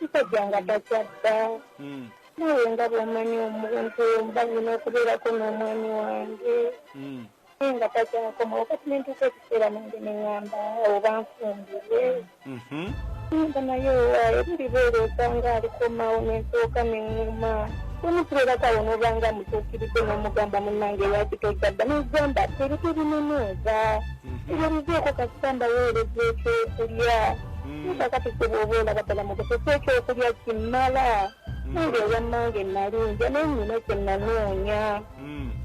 Musajja nga takyadda hmm. nawe nga bwomanyi omuntu mba nyina okubeerako n'omwami wange hmm. naye nga takyakoma wakati nentuuka ekiseera nange neŋamba oba nfumbire mhm. nga naye owaayo buli beera osanga alikomawo nensooka neŋuma omukulera kawo nobanga mutuukiridde n'omugamba munange lwaki tokyadda nogamba teri tebinonooza ebyo bizeeko kasita mbaweereza ekyokulya kakati kye bwoba olaba ddala mu kusesa ekyokulya kimala nange owammange nalinja naye nnyina kye nanoonya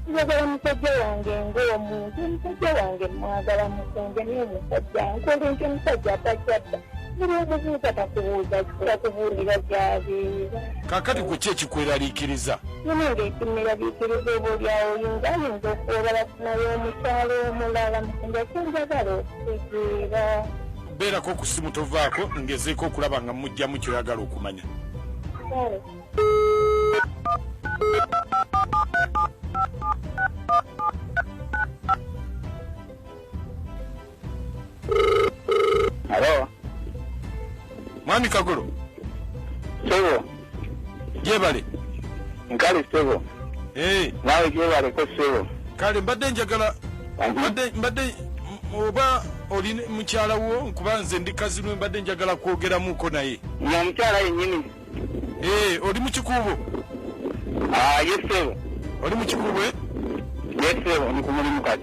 njagala musajja wange ng'omuntu omusajja wange mwagala mukunja naye omusajja nkola enkyo omusajja atakyadda kakati ku ki ekikweraliikiriza nange ekimeraliikiriza obaolyawo yinza ayinza okuwebala kunayo omukyalo omulala mukunja kyenjagala okutegeera Beerako ku ssimu tovaako ngezeeko okulaba nga mujjamu kyoyagala okumanya. Mwami Kagolo. Sebo. jebale nkale sebo eh. nawe jebaleko sebo kale mbadde njagala mbadde oba oli mukyala wo nkuba nze ndi kazinwe mbadde njagala kwogeramuko naye omukyala yenyini eh, oli mukikuubo ah, yesebo oli mukikuubo eh? yesebo ndi kumulimu kati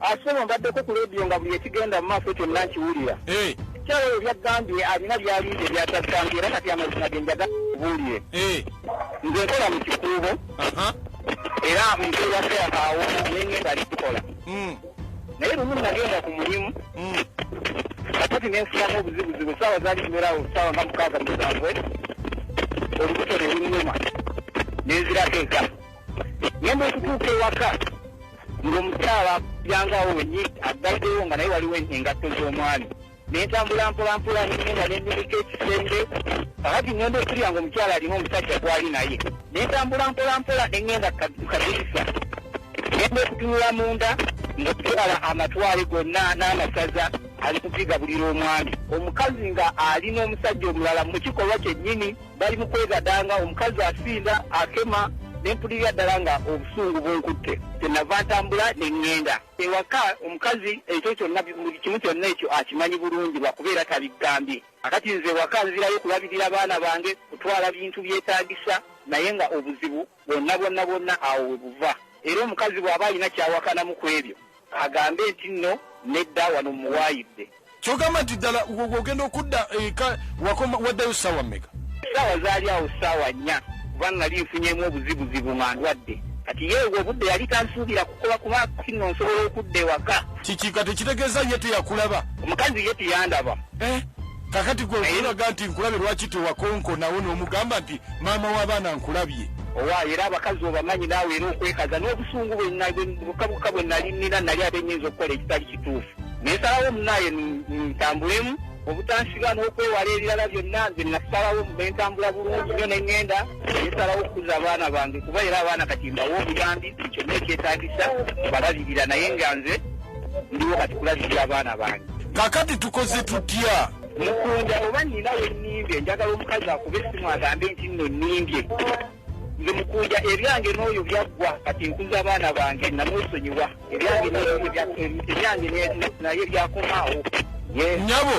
Asebo mbaddeko ku leediyo nga buli ekigenda mu maaso kyonna nkiwulira. Eh. Kyalo ebyo byaggambye alina by'alinze by'ataggambye era kati amazima ge njaga kubuulire. Eh. Nze nkola mu kikuubo era mbeera seakaawo ne ngenda likukola. Hmm. Naye lumu nagenda ku mulimu hmm. kakati ne nfunamu obuzibuzibu essaawa zaali zibeerawo essaawa nga mukaaga musanvu olubuto ne lunnuma ne nzirateeka. Ngenda okutuuka ewaka ng'omukyala yangawo wenyi aggalidewo nga naye waliwo engatto z'omwami nentambula mpolampola nengenda nenyumika ekisenge kakati ngenda okulya nga omukyala alina omusajja gwali naye nentambula mpolampola nengenda kadirisa genda okutunula munda ngaokukyala amatwale gonna n'amasaza ali kupiga bulira omwami omukazi nga alina omusajja omulala mu kikolwa kyennyini bali mu kwegadanga omukazi asinda akema ne mpulirira ddala nga obusungu bunkutte kyenava ntambula ne ŋŋenda ewaka omukazi ekyo kyonna buli kimu kyonna ekyo akimanyi bulungi lwakuba era tabigambye akati nze ewaka nzirayo kulabirira baana bange kutwala bintu byetaagisa naye nga obuzibu Bwonna bwonna bwonna awo we buva. Era omukazi bw'aba alina ky'awakanamu ku ebyo, agambe nti nno, Nedda, wano mmuwaayidde. Ky'ogamba nti ddala ogenda okudda eka wakoma, waddayo ssaawa mmeka? Ssaawa zaali awo ssaawa nnya, kuba nnali nfunyemu obuzibuzibu nga ndwadde. Kati ye obwo obudde yali tansuubira kukola kuba kati nno nsobola okudda ewaka. Kiki kati ekitegeeza ye teyakulaba? Omukazi ye teyandaba. Eh? kakati gwe okulaga nti nkulabye lwaki tewakonko nawo nomugamba nti maama w'abaana nkulabye owaayo era abakazi obamanyi naawe era okwekaza n'obusungu bwebukabuka bwe nali nina nali ate nyinza okukola ekitali kituufu nesalawo munaaye ntambulemu obutansiba n'okwewala ebirala byonna nze nasalawo nentambula bulungi nyo nengenda nesalawo okukuza abaana bange kuba era abaana kati mbawo obuyambi kyonna ekyetagisa balabirira naye nga nze ndiwo kati kulabirira abaana bange kakati tukoze tutya mukunda oba nina wenimbye njagala omukazi akuba esimu agambe nti nno nimbye nze mukunda ebyange n'oyo byaggwa kati nkuza abaana bange namwesonyiwa ebyange naye byakomaawo nyabo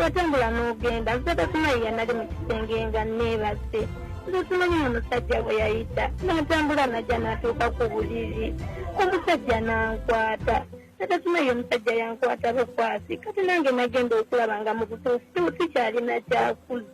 watambula n'ogenda nze tasimayi yanali mu kisenge nga neebase nze simanyi mu musajja bwe yayita n'atambula najja n'atuuka ku buliri omusajja n'ankwata natasimayi omusajja yankwata bukwasi kati nange nagenda okulaba nga mu butuufu sikyalina kyakuza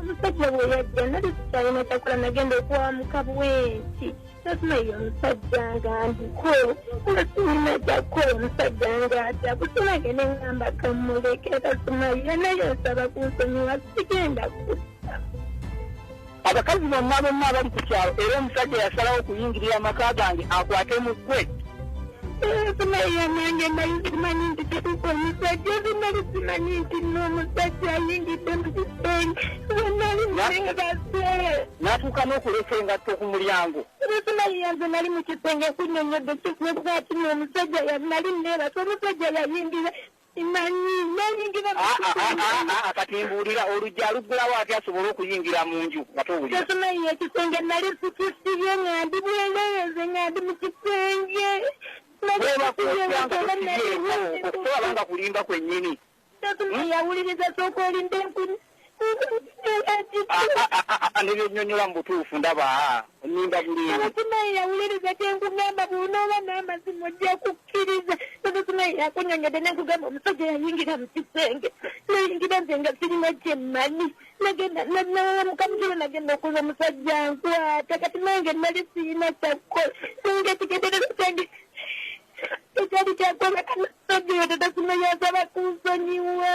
omusajja bwe yajja nali sikyalina kyakola nagenda okuwa mukabwenti nasima ye omusajja nga ndiko nga sirina kyakukola omusajja nga ati akusomage ne ngamba kamuleke kasima ye naye nsaba kunsonyiwa sigenda kusa abakazi bonna bonna abali ku kyalo era omusajja yasalawo okuyingirira amaka gange akwate mu ggwe Naye nange nali simanyi nti tutuka omusajja ozi nali simanyi nti n'omusajja ayingidde mu kisenge wenali nali nga basere natuuka n'okuleka engatto ku mulyango simanyi yanze nali mu kisenge kunyonyodde kikuba kino omusajja nali neebasa omusajja yayingira kati mbuulira oluggi aluggulawo ati asobole okuyingira mu nju nga towulira tetunaye ekisenge nali sikisibye nga ndi bweleeze nga ndi mu kisenge okusobola nga kulimba kwennyini yawuliriza sooka olinde nebyenyonyola mu butuufu ndaba onyimba bulungikimayi yawuliriza kyenkugamba bwonooba n'amazima ojja kukkiriza nobukimayi yakunyonyode nenkugamba omusajja yayingira mu kisenge nayingira nze nga sirina kyemmanyi nagenda namukamukiro nagenda okuza omusajja nkwata kati nange nali sirina kyakukola nange kigenderero kyange ekyali kyakwebaka nasajja oyo tatakimayi asaba kunsonyiwa